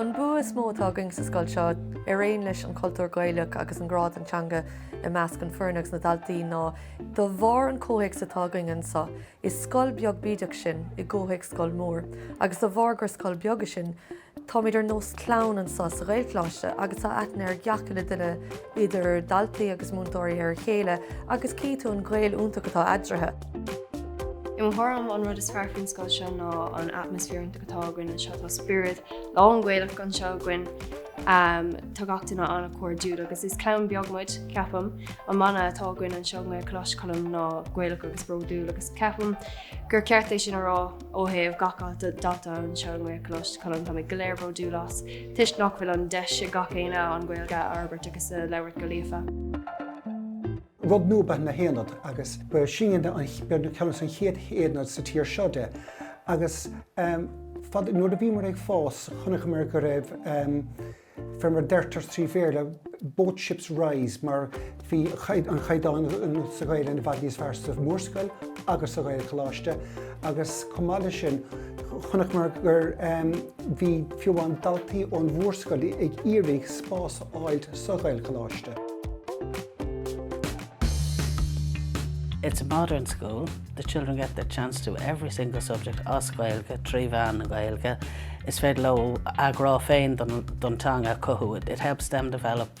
An bua is mó atá againn sa scoil seo, araon leis an chultúr Gaelach agus an grá don teanga i measc an foirne agus na daltaí, ná de bharr an comhthéacs atá againn anseo. Is scoil beag bídeach sinn i gcomhthéacs scoil mór, agus de bharr gur scoil beag sinn, táimid ar nós clann anseo sa Ghaelcholáiste agus tá aithne ar gach uile duine idir daltaí agus múinteoirí ar a chéile agus cífidh tú an gaol iontach atá eadraithe. I mo thuairim, an rud is fearr faoin scoil seo ná an atmaisféar iontach atá againn anseo, tá spiorad lán Gaelach anseo againn. Tá gach duine an-chairdiúil agus is clann beag muid, ceapaim. An mana atá againn anseo i nGaelcholáiste Choilm ná Gaelach agus bródúil agus ceapaim gur ceart é sin a rá ó thaobh gach dalta anseo i nGaelcholáiste Choilm táimid go léir bródúil as, toisc nach bhfuil an deis ag gach éinne an Gaeilge a fhorbairt agus a labhairt go líofa. Rud nua ba ea na haonaid, agus ba sinne ceann de na chéad aonaid sa tír seo de. Agus nuair a bhíomar ag fás, chonaiceamar go raibh fear mar deirtear trí Bhéarla, both ships rise, mar bhí an chaighdeán sa Ghaelainn i bhfad níos fearr sa Mhórscoil agus sa Ghaelcholáiste, agus chomh maith leis sin, chonaiceamar gur bhí fiú amháin daltaí ón mórscoil ag iarraidh spás a fháil sa Ghaelcholáiste. It's a modern school, the children get the chance to do every single subject as Gaeilge trí mheán na Gaeilge, is féidir leo a ghrá féin don teanga a chothú, it helps them develop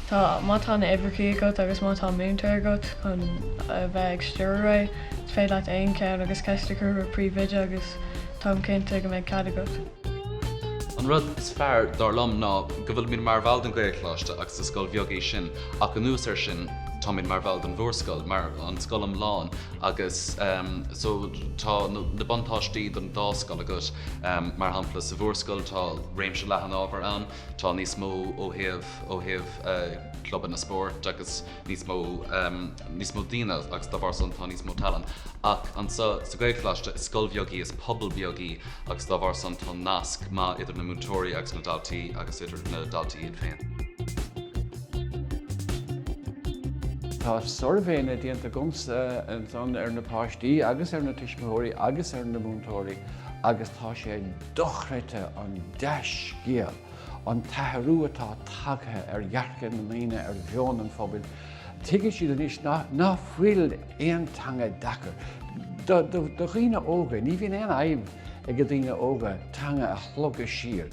Tá, má tá na uimhreacha agat agus má tá múinteoir agat chun a bheith ag stiúradh é, is féidir leat dul ar aghaidh agus ceist a chur ar an bpríomhoide agus táim cinnte go mbeidh cead agat. An rud is fearr, dar liom, ná go bhfuilimid mar bhall den Ghaelcholáiste agus is scoil bheag í sin ach anuas ar sin táimid mar bhall den mhórscoil, mar an scoil iomlán agus, so, tá na buntáistí don dá scoil agat. Mar shampla, sa mhórscoil tá réimse leathan ábhar ann, Tá níos mó ó thaobh ó thaobh clubanna spórt agus níos mó níos mó daoine agus dá bharr san tá níos mó talann ach anseo sa Gaelcholáiste is scoil bheag í is pobal beag í agus dá bharr san tá nasc maith idir na múinteoirí agus na daltaí agus idir na daltaí iad féin. Tá suirbhéanna déanta agamsa ansan ar na páistí agus ar na tuismitheoirí agus ar na múinteoirí agus tá sé dochreidte an dea-scéal an t-athrú atá tagtha ar dhearcadh na ndaoine ar mheon an phobail, tuigeann siad anois ná fuil aon teanga deacair. Do dhaoine óga, ní bhíonn aon fhadhb age daoine óga teanga a shlogadh siar,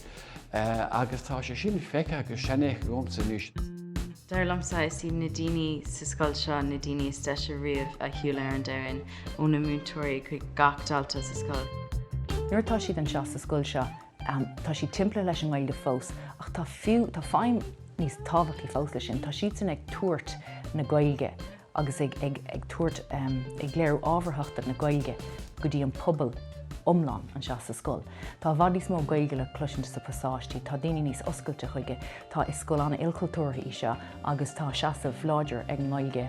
agus tá sé sin feicthe agus seanfheicthe agamsa anois. Dar liomsa, is iad na daoine sa scoil seo na daoine is deise riamh a shiúil ar an domhan. ó na múinteoirí chuig gach dalta sa scoil. Nuair atá siad anseo sa scoil seo, tá siad timpeall leis an nGaeilge fós ach tá feidhm níos tábhachtaí fós leis sin, tá siadsan ag tabhairt na Gaeilge agus ag tabhairt, ag léiriú ábharthachta na Gaeilge go dtí an pobal iomlán anseo sa scoil. Tá i bhfad níos mó Gaeilge le cloisint sa pasáistí, tá daoine níos oscailte chuige, tá, is scoil an-ilchultúrtha í seo agus tá seasamh láidir ag an nGaeilge,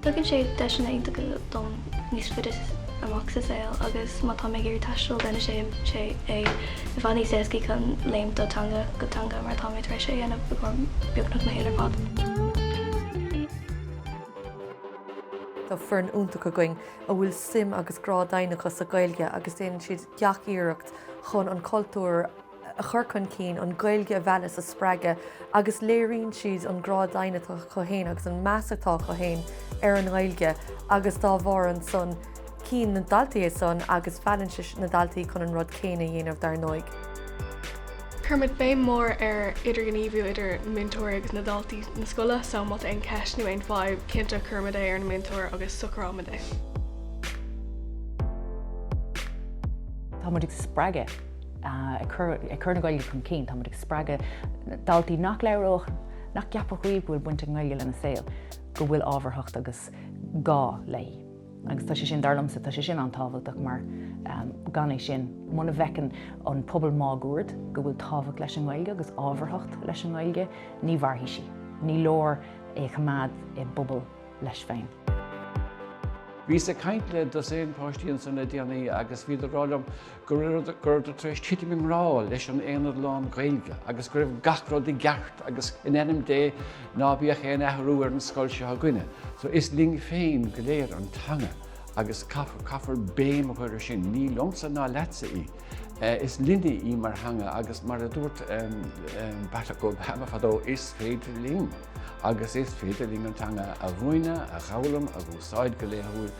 Tugann sé deiseanna iontacha dom níos faide amach sa saol agus má tá mé ag iarraidh taisteal deineann sé é i bhfad níos éascaí chun léimt ó teanga go teanga mar tá mé tar éis é a dhéanamh i gcóir beagnach mo shaol ar fad. Tá foireann iontach againn a bhfuil suim agus grá doimhin acu sa Gaeilge agus déanann siad gach iarracht chun an cultúr, a chur chun cinn, an Ghaeilge a mhealladh is a spreagadh agus léiríonn siad an grá doimhin atá acu féin agus an meas atá acu féin ar an nGaeilge agus dá bharr san cíonn na daltaí é san agus meallann sé na daltaí chun an rud céanna a dhéanamh dar ndóigh. Cuirimid béim mhór ar idirghníomhú idir na múinteoirí agus na daltaí na scoile so má tá aon cheist nó aon fadhb cinnte cuirimid é ar an múinteoir agus socraímid é. Tá muid ag spreagadh. ag cur na Gaeilge chun cinn, tá muid ag spreagadh daltaí nach labhródh, nach gceapfadh choíche go bhfuil baint ag an nGaeilge lena saol, go bhfuil ábharthacht agus gá léi. Agus tá sé sin, dar liomsa, tá sé sin an-tábhachtach mar gan é sin, muna bhfeiceann an pobal máguaird go bhfuil tábhacht leis an nGaeilge agus ábharthacht leis an nGaeilge, ní mhairfidh sí. Ní leor é a choimeád i bpobal leis féin. Bhíos ag caint le dosaen páistí ansan le déanaí agus bhíodar ag rá liom go rabhadar tar éis titim i ngrá leis an aonad lán-Ghaeilge agus go raibh gach rud i gceart agus, in ainm Dé, ná bíodh aon athrú ar an scoil seo againne. So, is linn féin go léir an teanga agus caithfear béim a chur air sin. Ní liomsa ná leatsa í. Is linne í mar theanga agus mar a dúirt Barack Obama fadó, is féidir linn! Agus is féidir linn an teanga a mhúineadh, a dh'fhoghlaim, a úsáid go laethúil.